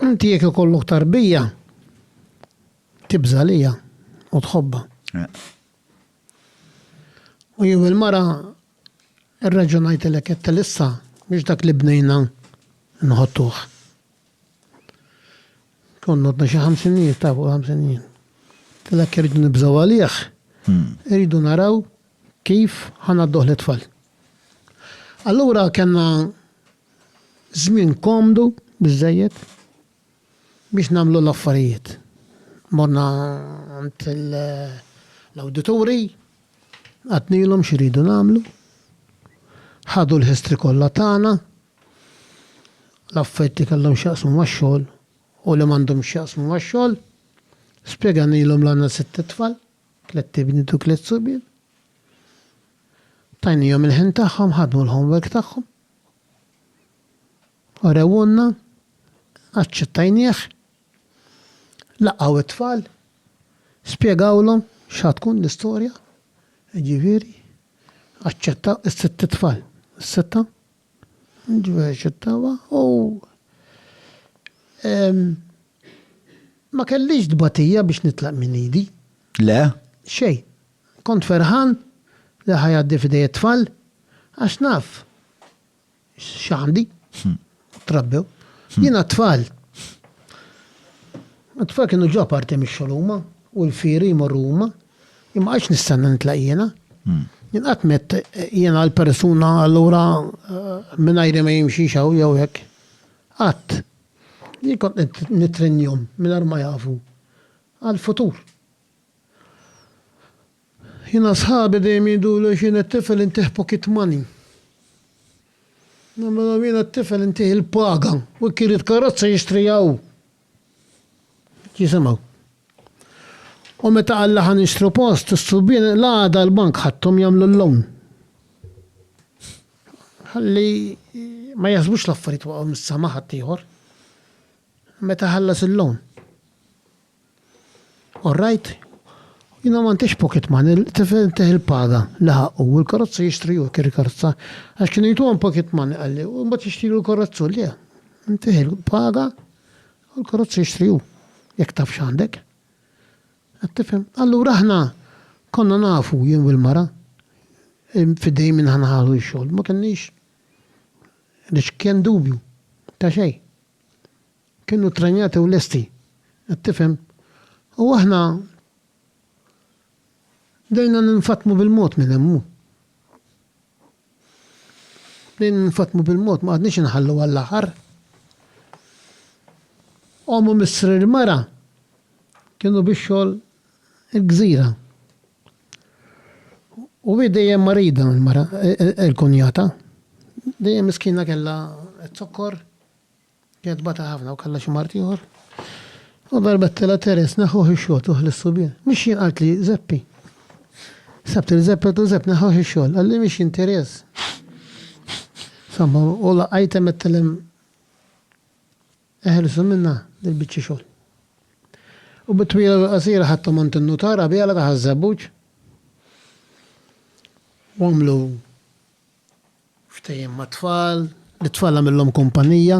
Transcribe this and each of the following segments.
Inti jekk ikollok tarbija, tibża' għaliha u tħobbha. U jew il-mara rraġunajtilek għedtilha issa mhux dak li bnejna nħottuh. Konna għadna xi ħamsin jien, ta' fuq ħamsin jien. Tilek irridu nibżgħu għalih, hmm. irridu naraw kif ħanadduh l-tfal. Allura kellna Żmien komdu biżżejjed biex nagħmlu l-affarijiet. Morna għand l-awdituri, għadnilhom x'iridu nagħmlu, ħadu l-history kollha tagħna, l-affarijiet li kellhom x'jaqsmu max-xogħol u li m'għandhomx x'jaqsmu max-xogħol, spjeganilhom li għandna sitt itfal, tliet ibniet u tliet subien. Tajnihom il-ħin tagħhom, ħadmu l-homework tagħhom. Urewhulna, aċċettajnieh, laqgħu t-tfal, spjegawlhom x'ha tkun l-istorja, jiġifieri aċċettaw is-sitt tfal, is-sitta, jiġifieri aċċettawha u ma kellix tbatija biex nitlaq minn idi. Le. Xejn. Kont ferħan li ħa jgħaddi f'idej it-tfal għax naf x'għandi, trabbew. Jiena t-tfal, it-tfal kienu ġo parti mix-xogħol huma u l-fieri jmorru huma, jien ma qgħadtx nistenna nitlaq jiena. Jien qatt m'għedt jiena l-persuna allura mingħajri ma jimxix hawn jew hekk. Qatt. Jien kont nittrennjahom mingħajr ma jafu għall-futur. Jiena sħabi dejjem jgħiduli għax jiena t-tifel intih pocket money. Nagħmilhom jiena t-tifel intih il-paga u jekk irid karozza jixtriha hu. Jisimgħu. U meta qal li ħa nixtru post, is-subien l-għada l-bank ħadthom jagħmlu l-loan. Ħalli ma jaħsbux l-affarijiet waqgħu mis-sema ħaddieħor. Meta ħallas il-loan. All right. Jiena m'għandix pocket money, l-tifel tah il-paga li ħaqqu u l-karozza jixtri hu, kien il-karozza, għax kienu jtuhom pocket money, qalli, u mbagħad jixtrilu l-karozza hu, le, ntih il-paga u l-karozza jixtri hu, jekk taf x'għandek. Qed tifhem? Allura aħna konna nafu, jien u l-mara, f'idejn min aħna ħadu x-xogħol, ma kenniex, għaliex kien dubju ta' xejn. Kienu ttrenjati u lesti. Qed tifhem? U aħna bdejna ninfatmu bil-mod minn hemm. Bdejna ninfatmu bil-mod, ma qgħadniex inħallu għall-aħħar. Omm u missri l-mara kienu biex xogħol il-gżira. U hi dejjem marida l-mara, il-kunjata. Dejjem miskina kellha t-zokkor. Jgħid bata ħafna u kellha xi mard ieħor. U darbet telgħa Teres neħħuh ix-xogħol tuħ lis-subien. Mhix jien qalt li Żeppi. Sebt lil Żeppi għedtlu Żepp neħħuh ix-xogħol. Qalli mhix jien Teres. Somma u laqajt hemm għedtha lem eħelsu minnha dil-biċċa xogħol. U bit-twila u l-qasira ħadthom għand in-nutar qabiela taħ iż-żebbuġ. U għamlu Ftehim mat-tfal, lit-tfal għamillhom kumpanija,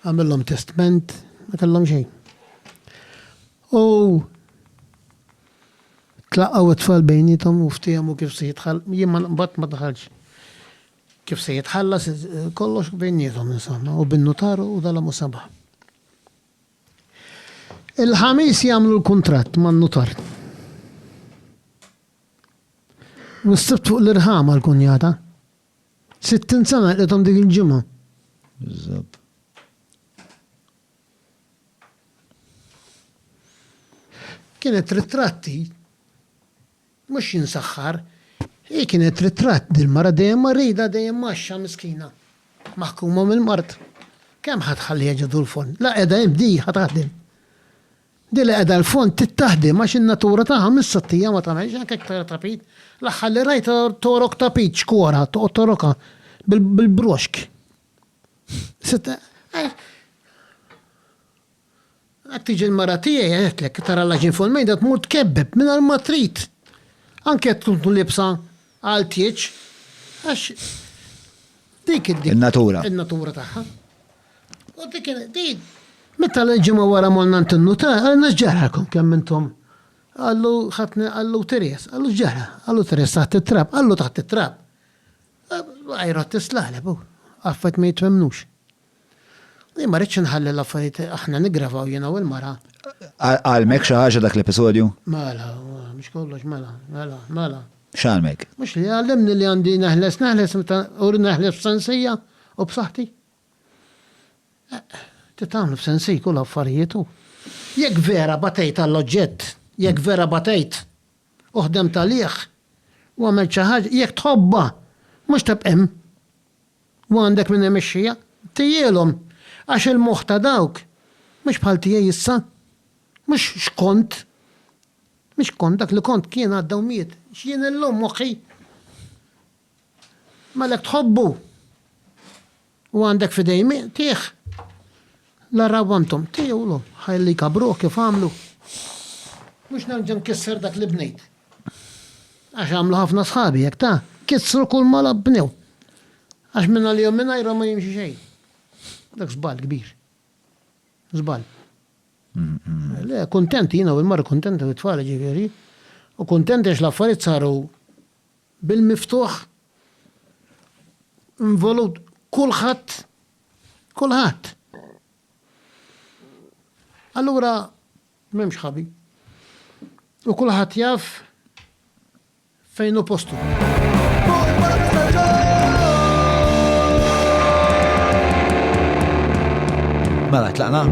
għamillhom testment, ma kellhom xejn. U tlaqgħu t-tfal bejnietom u ftehmu kif se jitħall, jien ma nqbad ma daħalx. Kif se jitħallas kollox bejnietom insomma u bin-notaru u dala mu sabaħ. Il-ħamis jagħmlu l-kuntratt man-notar. U s-Sibt fuq l-irħam għall-kunjata. Sittin sena lqithom dik il-ġimgħa. Biżżabb. Kienet trid tratti, mhux jien saħħar, hi kienet trid tratt dil-mara dejjem marida dejjem mgħaxxa miskina, maħkuma mill-mard. Kemm ħa tħalliha ġo dul-forn? La qiegħda hemm di ħa taħdem. Din li qiegħda l-fond tittaħdem għax in-natura tagħha minn sottija ma tagħmilx anke jekk tara tapit. L-aħħar li rajt torok tapit xkora, toqgħod torokha bil-broxk. Hekk tiġi l-mara tiegħi għedtlek, tara l-għaġin fuq il-mejda tmur tkebbeb mingħajr ma trid. Anke jekk tkun libsa Għal tieġ, għax dik id. In-natura. In-natura tagħha. U dik id. Meta l-ġimgħa wara morna għand in-nutar, qalilna x'ġaralkom kemm intom. Qallu ħadni qallu Teres, qallu x'ġara? Qallu Teres taħt it-trab, qallu taħt it-trab. Għajr għodd is-slaleb hu. Affarijiet ma jitfhemnux. Jien ma rridx inħalli l-affarijiet aħna niggravaw jiena u l-mara. Għalmek xi ħaġa dak l-episodju? Mela, mhux kollox mela, mela, mela. X'għalmek? Mhux li għallimni li għandi neħles neħles meta u neħles b'sensija u b'saħħti. Ti tagħmlu b'sensik u l-affarijiet u. Jekk vera batejt għall-oġġett, jekk vera batejt u ħdemt għalih u għamilt xi ħaġa, jekk tħobbha, mhux tibqa' hemm. U għandek min imexxija? Tejjielhom, għax il-moħħ ta' dawk mhux bħal tiegħi issa. Mhux x'kont. Mhux x'kont, dak li kont kien għadda u miet. X'jien illum, moħħi? M'għalhekk tħobbu u għandek f'idejh miegħtih. L-Għarraw antom, tgħiulu, ħa illi jkabbruh kif għamlu? Mhux nerġa' nkisser dak li bnejt. Għax għamlu ħafna sħabi hekk ta! Kissru kulma la bnew. Għax minn għalihom mingħajrhom ma jimxi xejn. Dak żball kbir. Żball. Le, kuntenti jiena u l-mara kuntenti u t-tfal ġifieri. U kuntenti għax l-affarijiet saru bil-miftuħ involut kulħadd Kulħadd. Allura m'hemmx ħabi. U kulħadd jaf fejn hu postu. Mela tlaqna.